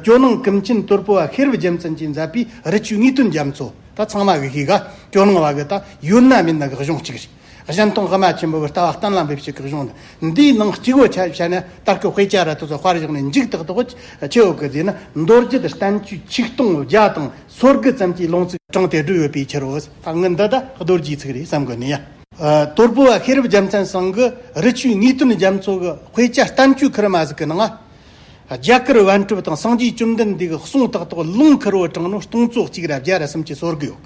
ཇོ་ནང་ཀུན་མཁྱེན་དོལ་པོ་བ་ཤེར་བུ་རྒྱལ་མཚན་གྱིས་མཛད་པའི་རི་ཆུའི་དངོས་དོན་རྒྱ་མཚོ། ད་ཚང་མ་གི་གིས་ག་ཇོ་ནང་བ་གི་ད་ཡུལ་ན་མིན་ན་གི་གཞུང་གཅིག་རེད། གཞན་སྟོང་དབུ་མ་ཆེན་པོ་བི་ལྟ་བ་གཏན་ལ་འབེབས་བྱེད་གི་གཞུང་འདི་འདིའི་ནང་གཅིག་བོ་ཆ་བྱས་ན་ལྟར་ཁུ་དཔེ་ཆ་ར་ཐུ་ཚོ་དཔར་བཞག་ནས་འཇིག་ཏག་ཏག་བོ་ཆེ་བོ་གི་དེ་ནི་མདོ་རྒྱུད་བསྟན་བཅོས་ཆིག་སྟོང་བརྒྱ་དང་སོ་དགུ་ཙམ་གྱི་ལུང་ཚིག་དྲངས་ཏེ་བསྒྲུབས་ཡོད་པའི་ཕྱིར་རོ། ད་ངི་འདི་ད་རྡོ་རྗེའི་ཚིག་རེད་བསམ་དགོས་ནི་ཡ། དོལ་པོ་བ་ཤེར་བུ་རྒྱལ་མཚན་བསང་གི་རི་ཆུའི་དངོས་དོན་རྒྱ་མཚོ་གི་དཔེ་ཆ་བསྟན་བཅོས་ཁི་རི་མ་ཟིག་གི་ནང། རྒྱ་གར་བན་སྤྲུབ་དང་སངས་རྒྱས་བཅོམ་ལྡན་འདས་ཀྱི་གསུང་ཏག་ཏག་ལུང་ཁར་བོ་དྲང་ནོར་སྟོང་ཚོ་གཅིག་རེ་བརྒྱ་རེ་གསུམ་གྱི་སོར་གི་ཡོད།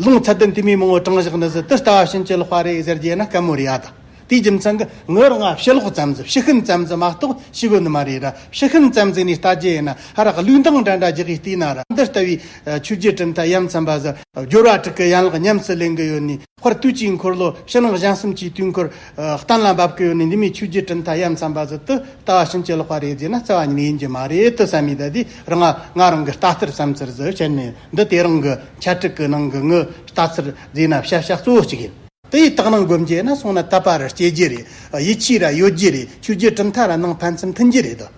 ལུང་ཚད་ལྡན་དུ་མའི་མང་བོ་དྲང་བཞག་ནི་ཟི་ཏི་ལྟ་བ་བྱིན་གྱིས་རློག་པ་རེད་ཟེར་རྒྱུ་ཡིན་ན་སྐད་མོ་རེ་ཡ་དང་དེའི་རྒྱུ་མཚན་གི་ངོས་རང་ང་ཕྱི་ལོག་ཙམ་ཟིག་ཕྱི་ཤུན་ཙམ་ཟིག་མ་གཏོགས་ཕྱི་སྒོ་ནི་མ་རེད་ར་ཕྱི་ཤུན་ཙམ་ཟིག་ནས་ལྟ་རྒྱུ་ཡིན་ན་ཧ་ར་གི་ལུས་མདངས་འདྲ་འདྲ་རྒྱག་གི་བལྟས་ན་ར་འདི་ལྟ་བུའི་ཆོས་རྒྱུད་གྲུབ་མཐའ་ཡ་མཚན་པ་ཟིག་སྦྱོར་བ་དྲུག་གི་ཡན་ལག་ཉམས་སུ་ལེན་གི་ཡོད་ནི། འཁོར་དུས་ཀྱི་འཁོར་ལོ་ཕྱི་ནང་གཞན་གསུམ་གྱི་དུས་འཁོར། གཏན་ལ་འབབ་ཀི་ཡོད་ནི་འདི་མའི་ཆོས་བརྒྱད་དྲིལ་མཐའ་ཡབ་མཚམས་པ་ཟིལ་དུ་ལྟ་བ་ཕྱིན་ཅི་ལོག་པ་རེད་ཟེར་ན་རྩ་བ་ཉི་མ་ཡིན་གྱི་མ་རེད་དུ་བསམ་མི་ད་དུས་རང་ང་རང་གི་ལྟ་ཚུལ་བསམ་ཚུལ་ཟིག་བཤད་ནི་འདི་དེ་རང་གི་འཆད་ཁྲིད་ཀི་ནང་གི་ངའི་ལྟ་ཚུལ་རྫས་ན་བཤད་བྱ་གཙོ་བོ་གཅིག་ཡིན། དེ་ཡི་དག་སྣང་སྒོམ་རྒྱས་ན་སོང་ན་དད་པ་ར་སྐྱེ་རྒྱུ་རེད་ཡིད་ཆེས་ར་ཡོད་རྒྱུ་རེད་ཆོས་བརྒྱད་དྲིལ་མཐའ་ར་ནང་ཕན་ཚུན་མཐུན་རྒྱུ་རེད་དོ།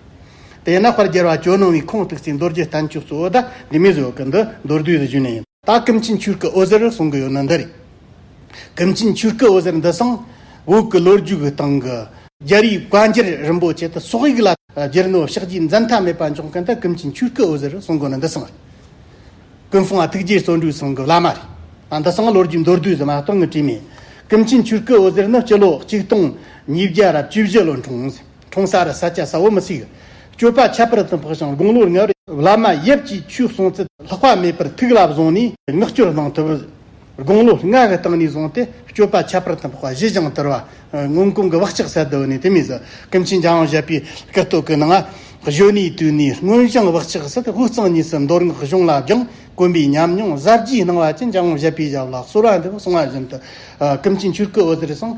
དེས་ན་དཔལ་རྒྱལ་བ་ཇོ་ནང་བའི་ཁུངས་གཏུགས་སའི་མདོ་རྒྱུད་བསྟན་བཅོས་གཙོ་བོ་ད་འདི་མའི་བཟོ་གི་འདི་མདོར་བསྡུས་སུ་བཞུགས་ནས། ད་ཀིམ་ཆིན་ཆུར་ཀི་ཨོ་ཟེར་གསུང་གི་ཡོད་ནི་འདི་རེད། ཀིམ་ཆིན་ཆུར་ཀི་ཨོ་ཟེར་འདི་སང་འོག་གི་ལོ་རྒྱུས་ཀི་སྟེང་གི། རྒྱལ་རིགས་བཀའ་འགྱུར་རིན་པོ་ཆེ་དུ་སོག་ཡིག་ལ་སྒྱུར་ནོ་ཕྱག་རྒྱའི་མཛད་མཐའ་མེད་པ་འཇོག་མཁན་ད་ཀིམ་ཆིན་ཆུར་ཀི་ཨོ་ཟེར་གསུང་གི་ནི་འདི་སང་ཀུན་ཧྥུང་ཨ་ཐུགས་རྗེའི་བརྩོན་འགྲུས་གསུང་གི་བླ་མ་རེད། ད་འདི་སང་ལོ་རྒྱུས་མདོར་བསྡུས་སུ་མ་གཏོང་གི་བྲིས་མེད། ཀིམ་ཆིན་ཆུར་ཀི་ཨོ་ཟེར་ནི་སྤྱི་ལོ་གཅིག་སྟོང་ཉིས་བརྒྱ་རབས་བཅུ་བཞི་ལོ་འཁྲུངས། གྲོང་གསར་ས་སྐྱ་ས་བོ་མི་སྲིད། སྤྱོད་པ་ཁྱད་པར་དུ་འཕགས་ཤིང་དགུང་ལོར་ངལ། བླ་མ་ཡབ་ཀྱིས་ཆོས་གསུངས་ཚུལ། ལྷག་པ་མེད་པར་ཐུགས་ལ་བཟུང་ནས་མངགས་བཅོལ་གནང་ཐུབ། དགུང་ལོ་ལྔ་གི་སྟེང་ནས་བཟུང་སྟེ་སྤྱོད་པ་ཁྱད་པར་དུ་འཕགས་པ་གཞི་བཞེངས་དར་བ། སྔོན་གོང་གི་བག་ཆགས་གསལ་དུ་འོད་ནས་དེ་མིན་གཟི་ཀུན་ཆེན་འཇའ་འོང་བཞད་པའི་སྐུ་སྟོད་ཀྱི་ནང། གཞོན་ནུའི་དུས་ནས་སྔོན་བཞེངས་བག་ཆགས་སྲིད་དབུགས་གཙང་གཉིས་སུ་འདོར་སྔགས་གཞུང་ལ་སྦྱངས་དཀོན་པའི་ཉམས་མྱོང་གཟབ་རྒྱས་གནང་བ་བཅས་འཇའ་འོང་བཞད་པའི་ཞབས་ལ་གསོལ་བ་འདེབས་སོང་བ་བཞིན་དུ། ཀུན་མཁྱེན་ཆོས་སྐུ་འོད་ཟེར་གསང།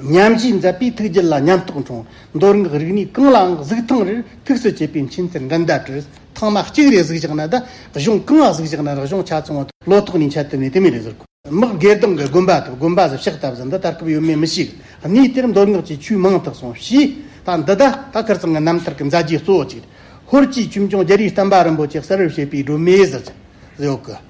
ཉམས་བཞེས་མཛད་པའི་ཐུགས་རྗེ་ལ་ཉམས་རྟོགས་འབྱུང། མདོར་ངག་རིག་ནི་གང་ལའང་གཟུགས་ཐང་རེར་ཐུགས་སུ་བྱས་པའི་མཁྱེན་གསལ་འགྲན་ཟླ་བྲལ། ཐང་མ་གཅིག་རེ་གཟུགས་བཞག་ན་བདག་གཞུང་གང་ལ་གཟུགས་བཞག་ན་རང་གཞུང་ཆ་ཚང་བ་དང་བློ་ཐོག་ནས་འཆལ་དུ་མེད་དུ་མེད་རེ་ཟུར་གོ། དམག་སྒེར་སྡང་གི་དགོན་པ་དང་དགོན་པ་ཟབ་ཤག་ལྟ་བུ་ཟ་འདི་ལྟར་སྐབས་ཡོད་མེད་མི་ཤེས། གནས་དེར་མདོར་ངག་གཅིག་ཆོས་མང་དག་སོང་ཞེས་ད་འདི་ད་ད་ཁར་ཚང་གི་རྣམ་ཐར་གྱི་མཛད་རྗེས་གཙོ་བོ་གཅིག་རེད། ཧོར་གྱི་ཁྱིམ་སྐྱོང་རྒྱལ་རིགས་བསྟན་པ་རིན་པོ་ཆེ་གསར་བཞེས་པའི་སྒྲོན་མེའི་གཟི་བརྗིད་གཡོ་སྐུ།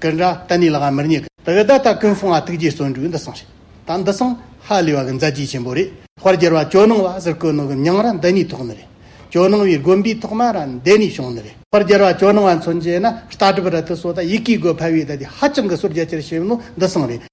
ཀུན་ར་ཏན་ནི་ལ་ང་མིར་ཉེ། ད་གི་ད་ལྟ་ཀུན་སོང་ང་ཐུགས་རྗེ་བརྩོན་འགྲུས་འདི་སོང་ཞིག་ད་འདི་སོང་ཧ་ལས་བ་གི་མཛད་རྗེས་ཆེན་པོ་རེད། དཔར་གྱུར་བ་ཇོ་ནང་བ་ཟེར་ཀུན་ནོ་གི་མྱང་ར་འདི་ནས་ཐོག་ནི་རེད། ཇོ་ནང་བའི་དགོན་པའི་ཐོག་མ་ར་འདི་ནས་བྱུང་ནི་རེད། དཔར་གྱུར་བ་ཇོ་ནང་བ་མཚོན་བྱེད་ན་ལྟ་གྲུབ་ར་ཐུ་སོ་ད་ཡིག་གིས་དགོས་ཕལ་བའི་ད་དེ་ཧ་ཅང་གི་སོར་རྒྱ་ཆེར་བྱེད་ནོ་འདི་སོང་རེད།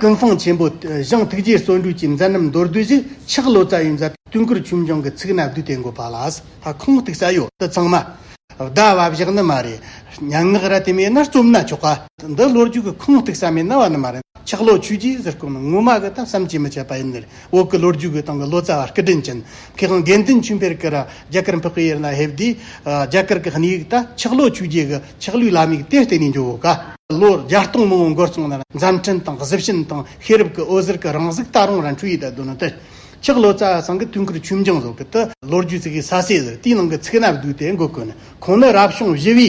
ཀུན་སྤངས་ཆེན་པོ། གཞང་ཐུགས་རྗེའི་སྲོག་འགྲུས་ཀྱི་མཛད་རྣམ་མདོར་བསྡུས་བཞི་ཕྱག་བློ་རྩ་ཡི་མཛད། སྟོན་ཀུར་ཆུ་འབྱུང་གི་ཚིག་སྣ་བསྡུས་ཏེ་འགོད་པ་ལ། ལྷ་ཁང་གཏུག་ས་གཡོ་དུ་ཚང་མ། བཟླ་བ་བཞག་ནི་མ་རེད། སྙན་ངག་ར་དེ་མེད་ན་རྩོམ་སྣ་ཆོག་ག། འདི་བློ་རྒྱུགས་ཁང་གཏུག་ས་མེད་ན་བ་ནི་མ་རེད། ཆག་ལོ་ཆུ་རྒྱུས་ཟེར་སྐོམ་ནི་ངོ་མ་གི་ད་བསམ་གྱིས་མི་ཁྱབ་པ་ཡིན། འོག་གི་ལོ་རྒྱུས་དགོས་སྟངས་ཀྱི་ལོ་ཙཱ་བ་སྐུ་དྲིན་ཅན་ཁེ་ཁང་དགེ་འདུན་ཆོས་འཕེལ་ཀིར་རྒྱ་གར་འཕགས་པའི་ཡེར་ན་ཧེབ་དེའི་རྒྱ་གར་གྱི་སྣེ་ཡིག་ལྟར་ཆག་ལོ་བཅུ་བརྒྱད་ཀྱི་ཆག་ལོའི་བླ་མིག་དེ་སྟེང་ནས་འཇོག་ག། ལོ་བརྒྱ་སྟོང་མང་བོ་འགོར་སོང་ན་མཛའ་འཕྲིན་དང་གཟི་བྱིན་དང་ཤེས་རབ་ཀྱི་འོད་ཟེར་གྱི་རང་གཟུགས་ད་རུང་རང་འཕྲུལ་ཡིད་དུ་འདོད་ན་དེ། ཆག་ལོ་ཙཱ་བ་ཚང་གི་དུས་འཁོར་ཆོས་འབྱུང་སོགས་ཀྱི་དུ་ལོ་རྒྱུས་ཚིག་གི་ས་བསྲེས་ཟེར་དེའི་ནང་གི་ཚིག་སྣ་བསྡུས་ཏེ་འགོད་དགོས་ན་ཁོང་ནི་རབ་བྱུང་བཞི་བའི།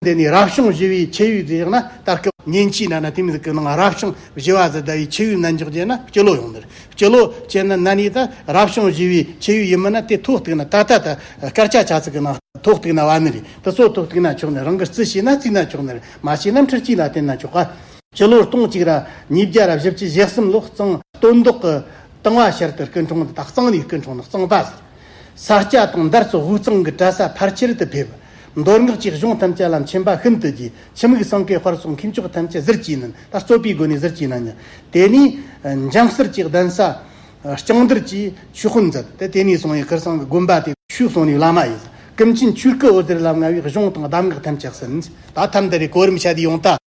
འདི་ནི་རབ་བྱུང་བཞི་བའི་ཕྱེད་ཡུལ་དུ་བཞག་ན་ལྟར་སྐུ། ཉིན་གཅིག་ན་ན་དེ་མིན་སྐུ་སྣང་རབ་བྱུང་བཞི་བ་ཟླ་བའི་ཕྱེད་ཡུལ་ན་འཇོག་བྱས་ན་སྤྱི་ལོ་ཡོངས་འདིར་སྤྱི་ལོ་ཅན་ན་ན་ནི་ད་རབ་བྱུང་བཞི་བའི་ཕྱེད་ཡུལ་ཡིན་མིན་ན་དེ་ཐོག་གཏུགས་ན་ད་ལྟ་ད་སྐར་ཆ་ཆ་ཚིག་གི་ནང་ཐོག་གཏུགས་ན་བ་མི་རེད་དེ་སོགས་ཐོག་གཏུགས་ན་ཆོག་ནི་རང་གི་རྩི་ཤེས་ན་རྩིས་ན་ཆོག་ནི་མ་ཤེས་ན་འཁྲུལ་གཅིག་ལ་བརྟེན་ན་ཆོག་ག། སྤྱི་ལོར་སྟོང་གཅིག་ར་ཉིས་བརྒྱ་ར་བཞི་བཅུ་བཞི་གསུམ་ལོ་གཙང་སྟོད་མདོག་གི་དང་བ་ཤར་དུ་སྐུ་འཁྲུངས་འདི་དག་གཙང་ནས་སྐུ་འཁྲུངས་ནི་གཙང་པ་ཟེར། ས་སྐྱ་དང་འདར་སོགས་དབུས་གཙང་གི་གྲྭ་ས་ཕར་ཁྱེར་དུ་ཕེབས། མདོ་སྔགས་ཀྱི་གཞུང་ཐམས་ཅད་ལ་མཁྱེན་པ་ཤིན་ཏུ་རྒྱས། ཕྱི་མིག་སྲང་ཀའི་བར་སོགས་མཁས་མཆོག་ཐམས་ཅད་གཟིར་གྱིས་མིན་ལ་རྩོད་པའི་སྒོ་ནས་གཟིར་གྱིས་མིན་ཡང། དེ་ནས་འཇང་གསེར་གྱི་གདན་ས་ལྕང་སྡེར་གྱིས་ཆོས་དཔོན་མཛད་དེ་དེ་ནས་བཟུང་ཡི་གེར་སྲང་གི་དགོན་པ་དེ། ཆོས་སྲུང་ནི་བླ་མ་ཡིན། ཀུན་མཁྱེན་ཆོས་སྐུ་འོད་ཟེར་ལ་མངའ་བའི་གཞུང་དང་གདམས་ངག་ཐམས་ཅད་གསན། ད་ཐམ་དེ་རེས་གོ་རིམ་ཆ་དེ་ཡོང་སྟེ།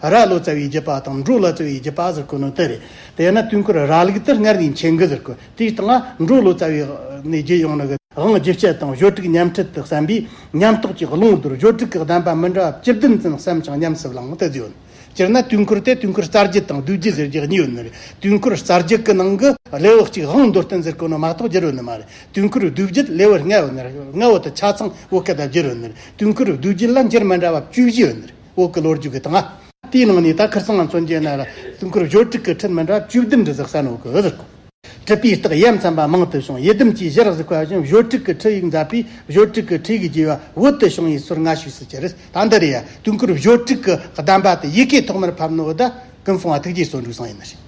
ར་ལོ་ཙཱ་བའི་རྒྱུད་པ་དང་འབྲོ་ལོ་ཙཱ་བའི་རྒྱུད་པ་ཟེར་དགོས་ནོ་དེ་རེད། དེས་ན་དུས་འཁོར་ར་ལུག་གཏེར་སྔར་གྱི་མཆན་འགོད་ཟེར་དགོས་དེའི་སྟེང་ལ་འབྲོ་ལོ་ཙཱ་བའི་ནས་བརྒྱུད་ཡོང་ནོ་གི་དབང་བརྒྱུད་སྤྱད་དང་གཞོལ་དྲུག་ཉམས་ཁྲིད་དུ་བསམ་པས་ཉམས་རྟོགས་ཀྱི་ཀློང་དུར་གཞོལ་དྲུག་གི་གདམས་པ་མི་འདྲ་བ་བཅུ་བདུན་ཙམ་བསམ་ཞིང་ཉམས་སུ་བླངས་དེ་ཡོད། སྤྱིར་ན་དུས་འཁོར་དེ་དུས་འཁོར་གསར་བརྗེ་དང་བསྡུས་བརྗེ་ཟེར་རྒྱུ་གཉིས་ཡོད་ནི་རེད། དུས་འཁོར་གསར་བརྗེ་གི་ནང་གི་ལེའུ་གཅིག་དབང་མདོར་བསྟན་ཟེར་དགོས་ནོ་མ་གཏོགས་བསྒྱུར་འོས་ནི་མ་རེད། དུས་འཁོར་བསྡུས་བརྗེ་ལེའུ་ལྔའི་འོག་ནས་ལྔའི་འོག་ཏུ་ཆ་ཚང་བོད་སྐད་དུ་བསྒྱུར་འོས་ནི་རེད། དུས་འཁོར་བསྡུས་བརྗེ་ལ་འགྱུར་མི་འདྲ་བ་བཅུ་བཞི་ཡོད་ནི་རེད། འོག་གི་ལོ་རྒྱུས་ཀྱི་དང། དེའི་ནང་ནས་ད་ཁིར་སང་ང་ཚོ་མཇལ་ན་ལ་དུས་འཁོར་བཞོ་དྲུག་གི་ཁྲིད་མི་འདྲ་བཅུ་བདུན་འབྲི་ཟིག་ས་ནོ་གི་ཟིག། བྲིས་པའི་རྟགས་ཡབ་མཚན་པ་མང་དུ་བྱུང་ཡི་དམ་གྱིས་གཞིར་གཟིགས་པ་བཞིན་བཞོ་དྲུག་གི་ཁྲིད་ཡིག་མཛད་པས་བཞོ་དྲུག་གི་ཁྲིད་ཡིག་རྒྱས་པ་འོད་དུ་བྱུང་བའི་ཚུལ་སྔ་ཕྱིས་སུ་གྱི་རེད་ད་འདི་རེད་ཡ། དུས་འཁོར་བཞོ་དྲུག་གི་གདམས་པ་དེ་ཡི་གེ་ཐོག་མར་ཕབ་ནོ་ཨོ་ད། ཀུན་སྲུང་བ་ཐུགས་རྗེའི་སོ་འབྲུག་བཟང་ཡིན་ནོ་ཞེས།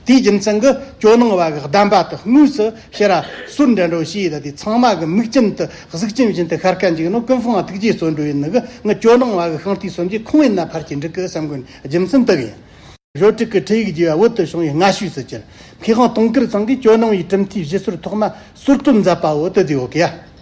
དེའི་རྒྱུ་མཚན་གྱི་ཇོ་ནང་བ་གི་གདམས་པ་དུ་དངོས་སུ་ཤེས་ར་སུར་འདྲེན་འགྲོ་ཞེས་དེ་ཚང་མ་གི་མིག་སྐྱིན་དུ་གཟུགས་སྐྱིན་བཞིན་དུ་ཤར་ཁ་འཇིགས་ནོ་ཀུན་སྲུང་བ་ཐུགས་རྗེའི་སོ་འབྲུག་ཡིན་ནི་གི་ངི་ཇོ་ནང་བ་གི་ཤིང་རྟའི་སུམ་བརྒྱའི་ཁུང་བས་ན་ཕར་གྱི་འབྲུག་གི་སེམས་ཀུན་རྒྱུ་མཚན་དུ་ཡིན། ཞོ་དྲུག་གི་ཁྲི་ཡིག་རྒྱས་བ་འོད་དུ་བྱུང་བའི་སྔ་ཤུས་སུ་གྱུར། མཁས་དབང་དུང་དཀར་ཚང་གིས་ཇོ་ནང་བའི་གྲུབ་མཐའི་བཞི་ཟུར་ཐོག་མ་ཟུར་གྲུབ་མཛད་པ་འོད་དུ་རྫས་འོག་གི་ཡ།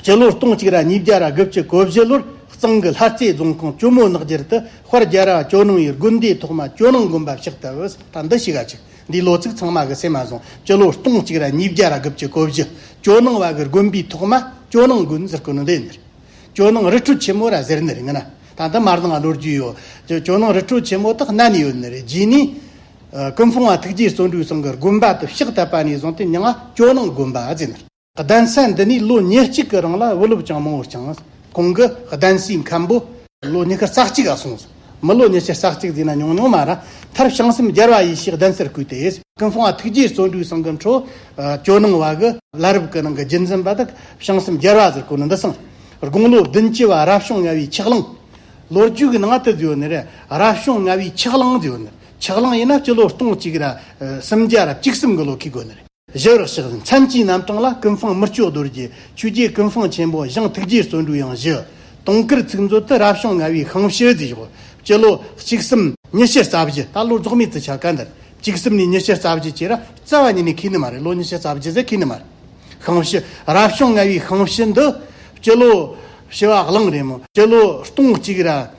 སྤྱི་ལོ་སྟོང་གཅིག་ར་གཉིས་བརྒྱ་ར་དགུ་བཅུ་གོ་བཞི་ལོར་གཙང་གི་ལྷ་རྩེ་རྫོང་ཁོངས་ཀྱོ་མོ་ནག་རྒྱུད་དུ་དཔར་རྒྱལ་རྭ་ཅོ་ནང་ཡི་དགོན་སྡེའི་ཐོག་མ་ཅོ་ནང་དགོན་པ་བཤིག་ཏུ་བུད་ད་འདི་བཤིག་ག་ཅིག་འདིའི་ལོ་ཚིགས་ཚང་མ་གི་སེ་མ་བཟང་སྤྱི་ལོ་སྟོང་གཅིག་ར་གཉིས་བརྒྱ་ར་དགུ་བཅུ་གོ་བཞི་ཅོ་ནང་བ་གི་དགོན་པའི་ཐོག་མ་ཅོ་ནང་དགོན་ཟེར་དཀོན་འདི་ནི་ཅོ་ནང་རི་ཁྲོད་ཆེན་མོ་ར་ཟེར་ནི་རེད་ང་ན་ད་འདི་མ་བཟང་གློ་རྒྱུས་ཡོད་ཅོ་ནང་རི་ཁྲོད་ཆེན་མོ་དག་གནའ་ནས་ཡོད་ནི་རེད་རྗེས་ནས་ཀུན་ཕུང་བ་ཐུགས་རྗེ་བརྩོན་འགྲུས་བཟང་གི་དགོན་པ་དུ་བཤིག་ད་པ་ནས་བཟང་སྟེ་མྱང་ང་ཅོ་ནང་དགོན་པ་ཟེར་ནི་རེད། གདན་ས་འདི་ནས་ལོ་ཉེར་གཅིག་གི་རིང་ལ་དབུ་སློབ་ཅང་མང་བོ་བསྐྱངས། གོང་གི་གདན་སའི་མཁན་པོ། ལོ་ཉི་ཤུར་ཙག་གཅིག་སོང་ཟིན། མི་ལོ་ཉི་ཤུར་ཙག་གཅིག་རྫིག་ན་ཉུང་ཉུང་མ་ར། མཐར་བྱང་སེམས་རྒྱལ་བ་ཡེ་ཤེས་གདན་སར་བསྐུལ་ཏེ། ཀུན་སྤངས་ཐུགས་རྗེའི་བརྩོན་འགྲུས་སྲང་གི་འཕྲོ། ཇོ་ནང་བ་གི་བླ་རབས་ཀྱི་ནང་གི་རྒྱུད་འཛིན་པ་དག་བྱང་སེམས་རྒྱལ་བ་ཟེར་གོ་ནི་འདི་སང། དགུང་ལོ་བདུན་བཅུ་བ་རབ་བྱུང་ལྔ་བའི་ཆགས་གླིང། ལོ་རྒྱུས་ཀྱི་ནང་དུ་བརྗོད་ནི་རབ་བྱུང་ལྔ་བའི་ཆགས་གླིང་བརྗོད་ནི། ཆགས་གླིང་ཡིན་ན་སྤྱི་ལོ་སྟོང་གཅིག་ར། སུམ་བརྒྱ་རབ་གཅིག་སུམ་གྱི་ལོ་ཁས་དགོད་ནི། བཞི་རག་ཤག་མཚན་གྱི་རྣམ་གྲངས་ལ་ཀུན་སྤངས་མི་སྐྱོ་རྡོར་རྒྱལ་ཆོས་རྒྱལ་ཀུན་སྤངས་ཆེན་པོ་ཞང་ཐུགས་རྗེའི་བརྩོན་འགྲུས་ཡང་བཞི། དུང་དཀར་ཚིག་མཛོད་དུ་རབ་བྱུང་ལྔ་བའི་ཤིང་བཞི་རྫས་བཞི། སྤྱི་ལོ་གཅིག་གསུམ། ཉི་ཤུ་རྩ་བཞི་ད་ལོ་རྫོགས་མེད་དུ་ཆགས་ག་འདིར་གཅིག་གསུམ་ནས་ཉི་ཤུ་རྩ་བཞི་བཅས་ར་རྩ་བ་ཉིད་ནས་ཁས་ནི་མ་རེད་ལོ་ཉི་ཤུ་རྩ་བཞི་ཟེར་ཁས་ནི་མ་རེད། ཤིང་བཞི། རབ་བྱུང་ལྔ་བའི་ཤིང་བཞི་འདི། སྤྱི་ལོ་བཞི་བ་གླིང་རེད་མོད་སྤྱི་ལོ་སྟོང་གཅིག་ར།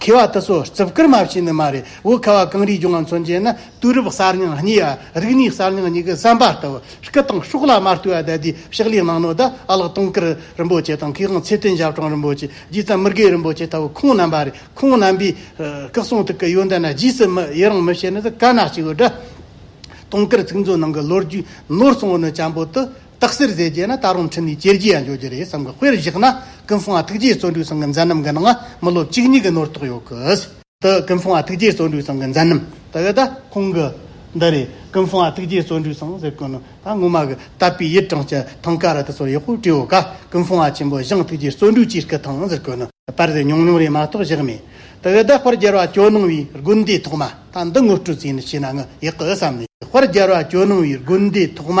མཁས་བ་དེ་ཚོ་རྩིབ་བསྐུར་མ་བྱས་ནི་མ་རེད་བོད་ཁ་བ་གངས་རིའི་ལྗོངས་ང་མཚོན་བྱེད་ན་དུས་རབས་གསར་རྙིང་གཉིས་ཡ་རིག་གནས་གསར་རྙིང་གཉིས་ཀྱི་བསམ་པ་ལྟ་བུ་སྐུ་དང་གཤོག་ལ་མ་ལྟོས་བ་དད་དུས་ཕྱག་ལས་གནང་ནོ་ད་གླག་སྟོང་ཀིར་རིན་པོ་ཆེ་དང་མཁས་དབང་ཚེ་བརྟན་ཞབས་དྲུང་རིན་པོ་ཆེ་རྗེ་བཙན་མི་དགེ་རིན་པོ་ཆེ་ལྟ་བུ་ཁོང་རྣམ་པ་རེད་ཁོང་རྣམ་པའི་སྐུ་གསུང་ཐུགས་ཀྱི་ཡོན་ཏན་ན་རྗེས་སུ་མི་ཡི་རང་མི་བྱེད་ནི་དཀར་ནག་གཅིག་ཡོད་དྲ། སྟོང་ཀིར་ཚིག་མཛོད་ནང་གི་ལོ་རྒྱུས་ནོར་གསུངས་བ་ནི་བྱམས་པོ་དུ། སྟག་སེར་ཟས་བརྒྱད་ན་ད་རུང་ཁྲིད་ནས་གྱེར་གྱི་ཡང་འགྱོ་གྱི་རེད་བསམ་གི་དཔེར་བཞག་ན་ཀུན་སྤུངས་ཨ་ཐུགས་རྗེའི་བརྩོན་འགྲུས་སང་གི་མཛད་རྣམ་གི་ནང་མི་ལོ་གཅིག་གཉིས་གི་ནོར་དོགས་ཡོད་གི། འདི་ཀུན་སྤུངས་ཨ་ཐུགས་རྗེའི་བརྩོན་འགྲུས་སང་གི་མཛད་རྣམ་ད་ཡོད་ད་ཁོང་གི། འདི་རེད་ཀུན་སྤུངས་ཨ་ཐུགས་རྗེའི་བརྩོན་འགྲུས་སང་ཟེར་གི་ནོར་ད་སྔོན་མ་གི་བཏབ་པའི་ཡིད་དྲང་སྤྱི་ཐང་ཀ་ར་ད་ཚོར་ཡག་པོ་བྲིས་ཡོད་ག་ཀུན་སྤུངས་ཨ་ཆེན་པོ་ཞིང་ཐུགས་རྗེའི་བརྩོན་འགྲུས་ཀྱིས་སྐུ་ཐང་ཟེར་གི་ནོར་པར་ཟེར་ཉུང་ཉུང་རེད་མ་གཏོགས་བཞག་མེད་ད་ཡོད་ད་དཔར་རྒྱལ་བ་ཇོ་ནང་བའི་དགོན་སྡེའི་ཐོག་མ་ད་འདི་ངོ་སྤྲོད་རྩིས་ནས་བྱས་ན་ངུ་ཡག་གི་བསམ་ནས་དཔར་རྒྱལ་བ་ཇོ་ནང་བའི་དགོན་སྡེའི་ཐོག་མ་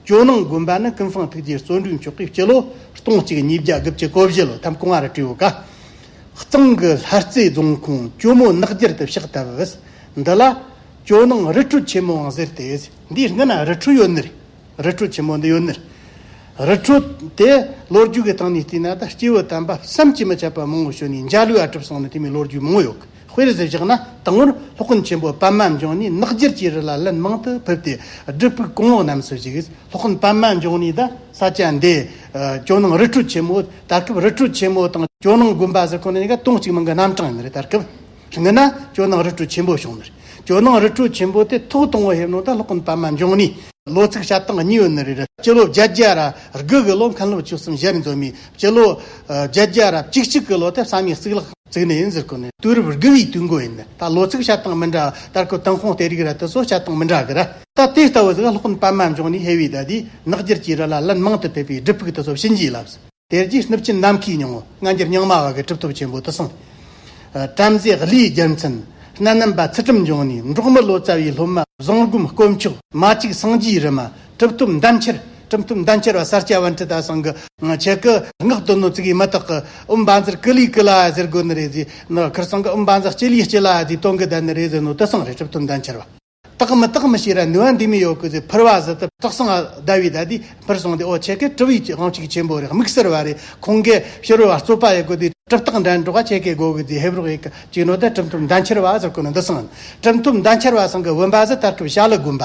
ཇོ་ནང་དགོན་པ་ནི་ཀུན་བཟང་ཐུགས་རྗེ་བརྩོན་འགྲུས་མཆོག་གི་སྤྱི་ལོ་སྟོང་གཅིག་ཉིས་བརྒྱ་དགུ་བཅུ་གོ་བཞི་ལོ་ཐམ་ཀོང་ཨར་ཀྲིའུ་ཀ་གཙང་གི་ལྷ་རྩེ་རྫོང་ཁོངས་ཇོ་མོ་ནགས་རྒྱར་དུ་ཕྱག་བཏབ། འདི་ལ། ཇོ་ནང་རི་ཁྲོད་ཆེན་མོའང་ཟེར་ཏེ། འདིའི་སྔུན་ན་རི་ཁྲོད་ཡོད་ནི། རི་ཁྲོད་ཆེན་མོ་འདི་ཡོད་ནི། རི་ཁྲོད་དེ་ལོ་རྒྱུས་ཀྱི་སྟེང་ནས་བལྟས་ན་ད་སྐྱེས་བུ་དམ་པ་བསམ་གྱིས་མི་ཁྱབ་པ་མང་བོ་བྱོན་ནས་འཇའ་ལུས་ཨ་གྲུབ་སོང་ནི་དེ་མིན་ལོ་རྒྱུས་མང་བོ་ཡོད། དཔེར་བཞིན་བཞག་ན་དང་བོར་སློབ་དཔོན་ཆེན་པོ་པདྨ་འབྱུང་གནས་ནག་འགྱུར་གྱི་རི་ལ་ལན་མང་དུ་ཕེབས་ཏེ་སྒྲུབ་ཕུག་གོང་འོག་རྣམས་སུ་བཞུགས། སློབ་དཔོན་པདྨ་འབྱུང་གནས་དང་ས་སྐྱ་འདས། ཇོ་ནང་རི་ཁྲོད་ཆེན་མོ་ད་སྐབས་རི་ཁྲོད་ཆེན་མོ་དང་ཇོ་ནང་དགོན་པ་ཟེར་ཁོ་ནི་ནི་ག་སྟོང་གཅིག་མིང་གི་རྣམ་གྲངས་ཡིན་རེད་ད་སྐབས་ངེས་ན་ཇོ་ནང་རི་ཁྲོད་ཆེན་པོ་བྱུང་མོད་ཇོ་ནང་རི་ཁྲོད་ཆེན་པོ་དེ་ཐོག་སྟོང་བ་ཧེབ་ནང་དང་སློབ་དཔོན་པདྨ་འབྱུང་གནས། ལོ་ཚིགས་ཞབས་སྟངས་གཉིས་ཡོད་ནི་རེད། སྤྱི་ལོ་བརྒྱད་བརྒྱ་ར་དགུ་གི་ལོ་མཁན་སློབ་ཆོས་གསུམ་གཞི་རིམ་རྫོགས་མའི་སྤྱི་ལོ་བརྒྱད་བརྒྱ་རབ་གཅིག་གཅིག་གི་ལོ་དེར་ས་མིག་གཙུག་ལག་བཙུགས་ནས་ཡིན་ཟེར་ཀོ་ནི། དུས་རབས་དགུ་བའི་དུས་འགོ་ཡིན། ད་ལོ་ཚིགས་བྱ་སྟངས་མི་འདྲ། ལྟར་ཁུ་ཏུན་ཧོང་སྟེ་རིགས་ར་དེ་ཚོ་བྱ་སྟངས་མི་འདྲ་གི་ར། ད་དེ་ལྟ་བུ་ཟིག་སློག་ནི་པདྨ་འབྱུང་ནི་ཧེ་བའི་ཟླ་དེའི་ནག་འགྱུར་གྱི་རི་ལ་ལན་མང་དུ་ཕེབས་པའི་སྒྲིབ་ཕུག་དེ་ཚོ་བྱིན་གྱིས་བརླབས། དེ་རྗེས་སྣུབ་ཆེན་ནམ་མཁའི་ཉིང་ལྔ་འགྱུར་རྙིང་མ་བ་གི་གྲུབ་ཐོབ་ཆེན་པོ་དུ་གསུངས། བྲམ་ཟེ་ཀླུའི་རྒྱལ་མཚན་སྣ་ནམ་པ་ཚུལ་ཁྲིམས་འབྱུང་ནི་འབྲོག་མི་ལོ་ཙཱ་བའི་སློབ་མ་བཟང་སྒོམ་དཀོན་མཆོག་མ་གཅིག་སངས་རྒྱས་རི་མ་གྲུབ་ཐོབ་འདམ་ཁྱེར། གྲུབ་ཐོབ་འདམ་ཁྱེར་བ་སར་སྐྱ་བན་ཁྲི་ད་སང་གི། ཁྱེད་སྐུ་ངག་དོན་ནོ་ཙི་གིས་མི་དག་གི། འུམ་བ་འཛིར་ཀི་ལིའི་ཀི་ལ་ཨ་ཟེར་དགོས་ནི་རེད་ཟེ་ནོ། ཁིར་སང་གི་འུམ་བ་འཛ་སྐྱི་ལིའི་སྐྱི་ལ་ཨ་ཟེ་དོན་གི་ད་ནི་རེད་ཟེ་ནོ་ཏི་སང་རེད་གྲུབ་ཐོབ་འདམ་ཁྱེར་བ། དག་མི་དག་མི་ཤེས་ར་ནུ་བ་འདི་མི་ཡོ་གི་ཟེ་ཕིར་བ་ཟི་ཏི་དག་སང་ཨ་ཟླ་བའི་ཟླ་དེ་ཕིར་སོང་སྟེ་ཨོ་ཁྱེད་སྐད་གྲུབ་ཡིག་དབང་ཅིག་ཆེན་པོ་རེད་དམིགས་བསལ་བ་རེད་ཁོང་གིས་ཕྱིར་བ་རྩོད་པ་ཡི་གོ་དེ་གྲུབ་དག་འདྲ་འགྲོག་ག་ཁྱེད་སྐད་གོ་གི་ཟེ་ཧེབ་རོག་ཡི་གི་ཅིག་ནོ་ད་གྲུབ་ཐོབ་འདམ་ཁྱེར་བ་ཨ་ཟེར་གོ་ནི་འདི་སང་གྲུབ་ཐོབ་འདམ་ཁྱེར་བ་སང་གི་འུམ་བ་ཟི་ཏར་ཁྲུབ་བྱ་ལི་དགོན་པ།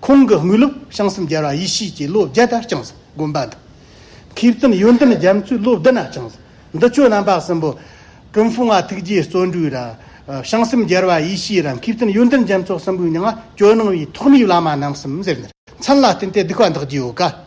ཁོང་གི་དངོས་སློབ་བྱང་སེམས་རྒྱལ་བ་ཡེ་ཤེས་ཀྱི་བློ་བརྒྱ་དར་བྱང་སེམས་དགོན་པ་དང། མཁས་བཙུན་ཡོན་ཏན་རྒྱ་མཚོའི་བློ་བདེ་ན་བྱང་སེམས་འདི་ཆོས་རྣམ་པ་གསུམ་པོ། ཀྲུང་ཧྥུང་བ་ཐུགས་རྗེའི་བརྩོན་འགྲུས་ར། བྱང་སེམས་རྒྱལ་བ་ཡེ་ཤེས་ར་མཁས་བཙུན་ཡོན་ཏན་རྒྱ་མཚོ་གསུམ་པོའི་མྱང་བ་སྐྱོ་སྣང་བའི་ཐོག་མའི་བླ་མ་རྣམ་གསུམ་ཟེར། མཚན་ལ་བརྟེན་ཏེ་སྡིག་པ་འདག་རྒྱུའོ།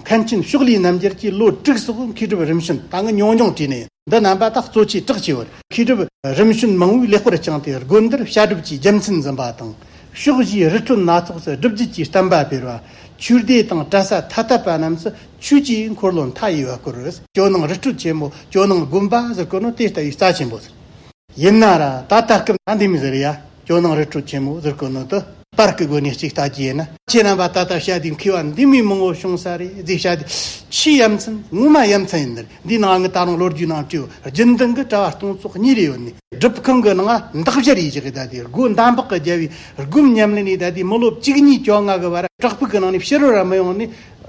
མཁན་ཆེན་ཕྱོགས་ལས་རྣམ་རྒྱལ་གྱིས་བློ་གྲོས་སོགས་མཁས་གྲུབ་རིམ་བྱོན་དང་ཉུང་ཉུང་བྲིས་ནས་འདི་རྣམ་པ་དག་གཙོ་ཆེ་གྲགས་ཆེ་བར་མཁས་གྲུབ་རིམ་བྱོན་མང་བོས་ལེགས་པར་བསྐྱངས་ཏེ་དགོན་འདིར་བྱ་སྒྲུབ་ཀྱི་རྒྱལ་མཚན་འཛིན་པ་དང་ཕྱོགས་བཞིའི་རི་ཁྲོད་སྣ་ཚོགས་སུ་སྒྲུབ་རྒྱུད་ཀྱི་བསྟན་པ་སྤེལ་བ། ཆོས་སྡེ་དང་གྲྭ་ས་ཐ་དད་པ་རྣམས་སུ་ཆོས་ཀྱི་འཁོར་ལོ་མཐའ་ཡས་པ་བསྐོར། ཇོ་ནང་རི་ཁྲོད་ཆེན་མོ་ཇོ་ནང་དགོན་པ་ཟེར་དགོས་ན་དེ་ལྟ་བུའི་རྩ་ཆེན་པོ་ཟེར། ཡིན་ན་ར་ད་ལྟ་སྐབས་ན་འདེམས་ཟེར་ཡ། ཇོ་ནང་རི་ཁྲོད་ཆེན་མོ་ཟུར་བཀོད་ནོར་དུ། པར་སྐུའི་དགོན་གནས་གཅིག་ལྟ་ཅི་ཡིན་ན། ཁྱེད་རྣམ་པ་ད་ལྟ་བྱ་དེའི་མཁས་པ་འདི་མི་མང་བོ་བྱུང་ས་རེད་གཟིགས་བྱ་དེ། ཕྱིའི་ཡ་མཚན་དངོས་མ་ཡ་མཚན་ཡིན་འདིར་འདིའི་ནང་གི་ད་རུང་ལོ་རྒྱུས་ནང་དྲི་བ་རྒྱུན་ལྡན་གི་དྲ་བ་སྟོང་ཚོགས་གཉིས་རེ་ཡོད་ནི། སྒྲུབ་ཁང་གི་ནང་འདག་བཞར་ཡི་གེ་གི་ད་ལྟའི་སྒོ་འདམ་བག་གི་རྒྱལ་བའི་སྒོམ་ཉམས་ལེན་ནི་ད་ལྟའི་མི་ལོ་གཅིག་གཉིས་བཅོ་ལྔ་གི་བར་བྲག་ཕུག་གི་ནང་ནས་ཕྱི་རོལ་ར་མི་ཡོང་ནི།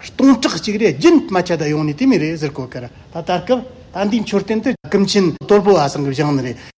སྟོང་ཕྲག་གཅིག་རེ་རྒྱུན་མ་ཆད་ད་ཡོང་ནི་དེ་མིན་རེད་ཟུར་བཀོད་གི་ར་ད་ལྟར་སྐབས་ད་འདིའི་མཆོད་རྟེན་དུ་ཀུན་མཁྱེན་དོལ་པོ་བ་སངས་གི་བཞེངས་ནི་རེད།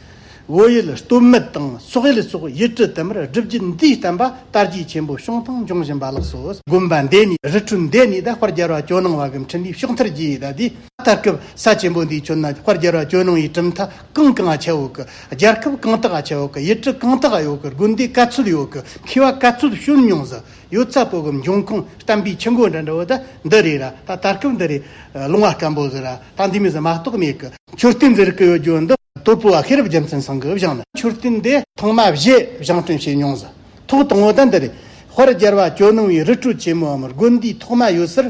བོད་ཡུལ་སྟོད་སྨད་དང་སོག་ཡུལ་སོགས་ཡུལ་གྲུ་དུ་མར་སྒྲུབ་རྒྱུད་འདིའི་བསྟན་པ་དར་རྒྱས་ཆེན་པོ་བྱུང་དང་འབྱུང་བཞིན་པ་ལགས་སོ། དགོན་པ་འདི་ནི་རི་ཁྲོད་འདི་ནས་ད་བར་རྒྱལ་བ་ཇོ་ནང་བ་གམ་ཁྲི་འདིའི་ཕྱོགས་མཐར་རྒྱས་ད་ལྟའི་ད་སྐབས་ས་ཆེན་པོ་འདིའི་ཁྱོན་ན་ད་བར་རྒྱལ་བ་ཇོ་ནང་བའི་གྲུབ་མཐའ་གང་གང་ཨ་ཆེའོ་གི་རྒྱལ་ཁབ་གང་དག་ཨ་ཆེའོ་གི་ཡུལ་གྲུ་གང་དག་ཨ་ཡོ་གི་དགོན་སྡེ་ག་ཚོད་ཡོད་གི་མཁས་བ་ག་ཚོད་བྱོན་མྱོང་ཟི་ཡོད་ཚ་པོ་གམ་འབྱུང་ཁུངས་བསྟན་པའི་ཆུ་འགོ་འདྲ་འདྲ་བོ་ད་འདི་རེད་ར་ད་ད་སྐབས་འདི་རེད་ལུང་བ་སྐམ་པོ་ཟི་ར་ད་འདི་མི་ཟི་མ་གཏོགས་མེད་གི་མཆོད་རྟེན་འདི་རིགས་ཡོད་རྒྱུ་འདི། སྟོད་བུ་བ་ཤེས་རབ་རྒྱལ་མཚན་ཚང་གི་བཞེངས་ནས་མཆོད་རྟེན་འདི་ཐོག་མ་བཞེས་བཞེངས་སྐྲུན་བྱས་མྱོང་ཟིན་ཐོག་དང་བོ་ད་འདི་རེད། དཔེར་སྒྱར་བ་ཇོ་ནང་བའི་རི་ཁྲོད་ཆེན་མོའམ་དགོན་འདིའི་ཐོག་མ་ཡོད་སར་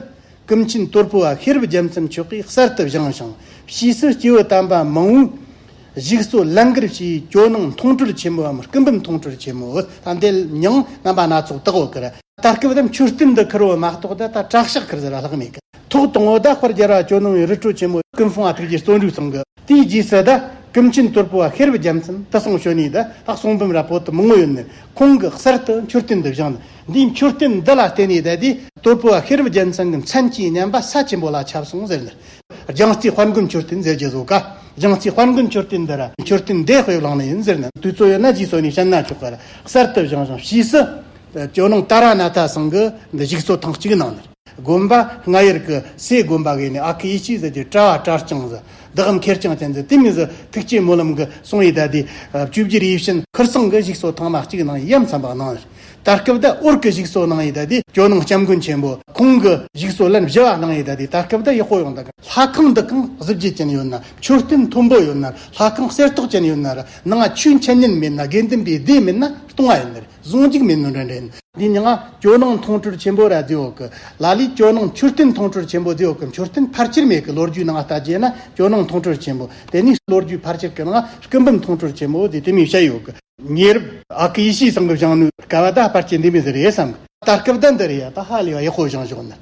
ཀུན་མཁྱེན་སྟོད་བུ་བ་ཤེས་རབ་རྒྱལ་མཚན་མཆོད་གྲྭའི་གསར་དུ་བཞེངས་ཤིང་ཕྱིས་སུ་སྐྱེ་བོ་དམ་པ་མང་བོས་གཞིགས་གསོ་ལན་འགར་བྱས་ཇོ་ནང་མཐོང་གྲོལ་ཆེན་མོའམ་སྐུ་འབུམ་མཐོང་གྲོལ་ཆེན་མོ་ད་འདི་མྱང་རྣམ་པ་སྣ་ཚོགས་དག་བོ་ཀིར་ད་སྐབས་ད་མཆོད་རྟེན་འདི་ཁིར་བོ་མ་གཏོགས་ད་ད་བྲག་ཞག་ཁིར་ཟེར་བ་ལྷག་མེད་ཀི་ཐོག་དང་བོ་ད་དཔེར་སྒྱར་བ་ཇོ་ནང་བའི་རི་ཁྲོད་ཆེན་མོ་ཀུན་སྲུང་བ་ཐུགས་རྗེ་བརྩོན་འགྲུས་ཚང་གི། དེའི་རྗེས་སུ་ད་ཀུན་མཁྱེན་སྟོད་པུ་བ་ཤེར་བུ་རྒྱ་མཚན་དུ་སོང་བྱོན་ནས་ད་ལྷག་སོང་བུམ་ར་བོ་དུ་མི་ངོ་ཡོད་ནས་ཁོང་གི་གསེར་དུ་མཆོད་རྟེན་འདི་བཞེངས་ནས་འདིའི་མཆོད་རྟེན་འདི་ལ་བརྟེན་ནས་ད་དེ་སྟོད་པུ་བ་ཤེར་བུ་རྒྱལ་མཚན་གྱི་མཚན་གྱི་བསྙེན་པ་ས་ཆེན་པོ་ལ་ཁྱབ་སོང་ཟེར་ནས་རྒྱང་རྩེའི་དཔལ་མགོན་མཆོད་རྟེན་ཟེར་གྱི་བཟོ་ག་རྒྱང་རྩེའི་དཔལ་མགོན་མཆོད་རྟེན་འདི་ར་མཆོད་རྟེན་འདས་དཔེ་བླངས་ནས་ཡིན་ཟེར་ནས་དུས་ཚོད་ཡོད་ན་རྗེས་སོ་ནས་བཤད་ན་ཆོག་ག་ར་གསར་དུ་བཞེངས་བཞེངས་ཕྱིས་སུ་ཇོ་ནང་ཏཱ་ར་ནཱ་ཐ་སང་གི་འདི་བཞུགས་སོ་ཐེངས་གཅིག་གནང་ནས། དགོན་པ་ལྔ་ཡར་གི་སའི་དགོན་པ་གས་ནས་ཨ་ཁི་ཡེ་ཤེས་ཟེར་གྱི་བཀྲ་བ་བཀྲ་རྐྱང་ཟེར་བདག་གམ་ཁེར་རྐྱང་ཅན་ཟེར་དེ་མིན་ཟེར་ཐུགས་བསྐྱེད་སྨོན་ལམ་གི་གསུང་ཡིག་བཟླས་ཏེ་བཅུ་བཞིར་ཡིད་བཞིན། ཁུར་སང་གི་བཞུགས་སོ་ཐང་མ་གཅིག་ནང་ཡབ་མཚམས་པ་གནང་ཡོད། ད་སྐབས་དག་ཨོར་གི་བཞུགས་སོ་གནང་ཡིད་བཟླས་ཏེ་ཇོ་ནང་སྐྱབས་མགོན་ཆེན་པོ་ཁོང་གི་བཞུགས་སོ་ལན་བཞི་བ་གནང་ཡིད་བཟླས་ཏེ་ད་སྐབས་དག་ཡུལ་སྐོར་ཡོང་དག་གི་ལྷ་ཁང་འདི་ཁང་གཟི་བརྗིད་ཅན་ཡོད་ན་མཆོད་རྟེན་མཐོན་པོ་ཡོད་ན་ལྷ་ཁང་གསེར་ཏོག་ཅན་ཡོད་ན་ར་ནང་ཆོས་མཁྱེན་ཉན་མེད་ན་དགེ་འདུན་པའི་སྡེ་མེད་ན་སྟོང་བ་ཡིན། ཟུང་འཇུག་མེད་མིན་རེ་འདྲེན། འདི་ནི་སྔར་ཇོ་ནང་མཐོང་གྲོལ་ཆེན་པོ་རྭ་རྫི་འོག་གི་ལ་ལས་ཇོ་ནང་མཆོད་རྟེན་མཐོང་གྲོལ་ཆེན་པོ་རྫི་འོག་གི་མཆོད་རྟེན་ཕར་ཆེར་མེད་ཀྱི་ལོ་རྒྱུས་ནང་ལྟ་རྒྱས་ན་ཇོ་ནང་མཐོང་གྲོལ་ཆེན་པོ་དེ་ནི་ལོ་རྒྱུས་ཕར་ཆེར་གྱི་ནང་སྐུ་འབུམ་མཐོང་གྲོལ་ཆེན་པོ་རྫི་དེ་མིའི་ཞལ་ཡོད་ཀྱི། ཉེ་རབས་ཨ་ཁུ་ཡེ་ཤེས་བཟང་གི་བཞེངས་ནུས་སྐལ་བ་ད་ཕར་ཆེར་འདི་མི་ཟེར་ཡས་སམ། ད་སྐབས་ད་འདི་རེད་ཡ་ད་ཧ་ལས་པ་ཡག་པོ་བཞེངས་ཤོག་ནི།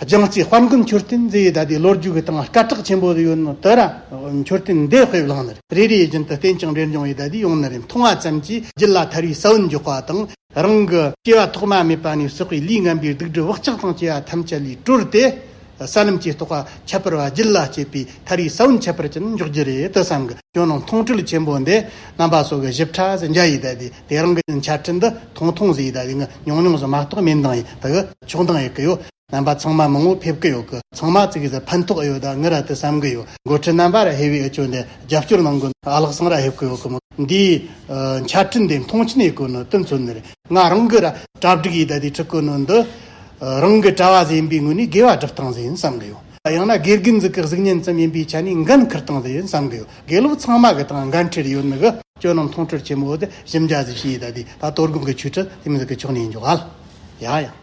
རྒྱང་སྐྱེས་དཔལ་མགོན་མཆོད་རྟེན་རེ་ཡིས་བདའ་དུས་ལོ་རྒྱུས་ཀྱི་སྟེང་སྐད་གྲགས་ཆེན་པོ་ཡོད་ནོ་དོ། མཆོད་རྟེན་འདི་དཔེ་བླངས་ནི་རེ་རེའི་རྒྱུན་དུ་རྟེན་ཅིང་འབྲེལ་འབྱུང་བའི་བདའ་དུས་ཡོང་ནི་རེད་མཐོང་བ་ཙམ་གྱིས་རྒྱུད་ལ་ཐར་བའི་ས་བོན་འཇོག་པ་དང། རང་གི་སྐྱེ་བ་ཐོག་མ་མེད་པ་ནས་སོག་པའི་ལུས་ངན་པའི་སྡུག་སྒྲིབ་བག་ཆགས་དང་བཅས་པ་ཐམས་ཅད་ལས་གྲོལ་ཏེ། ས་ལམ་གྱི་རྟོགས་པ་ཁྱད་པར་བ་རྒྱུད་ལ་སྐྱེས་པའི་ཐར་བའི་ས་བོན་ཁྱད་པར་ཅན་འཇོག་རྒྱུ་རེད་དུ་བསམ་གི། ཇོ་ནང་མཐོང་གྲོལ་ཆེན་པོ་འདི་རྣམ་པ་སོགས་ཀྱི་ཞིབ་ཕྲ་ཟིན་རྒྱ་ཡིས་བདའ་དུས་དེ་རང་གི་འཆད་ཁྲིད་འདི་ཐུང་ཐུང་ཟིག་ཡིད་ད་གིན་ཉུང་ཉུང་ཟིག་མ་གཏོགས་མིན་འདང་ཡིད་ད་གི་ཆོག་འདང་ཡིད་གི་ཡོད་རྣམ་པ་ཚང་མ་མང་བོ་ཕེབས་གི་ཡོད་གི་ཚང་མ་བརྩིག་གི་ཟིག་ཕན་ཐོགས་ཨེ་ཡོད་ད་ངི་ར་ཏི་བསམ་གི་ཡོད་འགོ་ཁྲིད་རྣམ་པ་ར་ཧེ་བས་ཨེ་ཅོ་འདི་རྒྱབ་སྐྱོར་གནང་གི་ཨ་ལགས་སང་ར་ཧེབ་གི་ཡོད་གི་མི་འདིའི་འཆད་ཁྲིད་འདི་མཐོང་ཆེན་ཡིད་གི་ནི་དོན་ཚོད་འདི་རེད་ང་རང་གི་ར་གྲ་བསྒྲིགས་ཡིད་ད་དེ་ཁྲིད་གི་ནི་འདི་རང་གི་གྲ་བ་ཟིག་ཡིན་པའི་ངོས་ནས་དགེ་བ་སྒྲུབ་སྟངས་ཟིག་ཡིན་བསམ་གི་ཡོད། ཡང་ན་དགེ་རྒན་གཟུགས་ཀྱི་གཟུགས་བརྙན་ཙམ་ཡིན་པའི་ཆ་ནས་འགན་འཁུར་སྟངས་དེ་ཡིན་བསམ་གི་ཡོད་དགེ་སློབ་ཚང་མ་གི་ཐང་འགན་འཁྲིར་ཡོད་ནི་གི་སྐྱོན་རྣམས་མཐོང་གྲོལ་ཆེན་མོ་དེ་ཞིབ་མཇལ་གཟིགས་ཞིབ་ཡི་ད་དེ་ད་གཏོར་སྒོམ་གི་ཆོས་ཁྲིད་དེ་མི་གཟུགས་ཀྱི་ཕྱོགས་ནས་ཡིན་འཇུག་ག་ལ་ཡ་ཡང།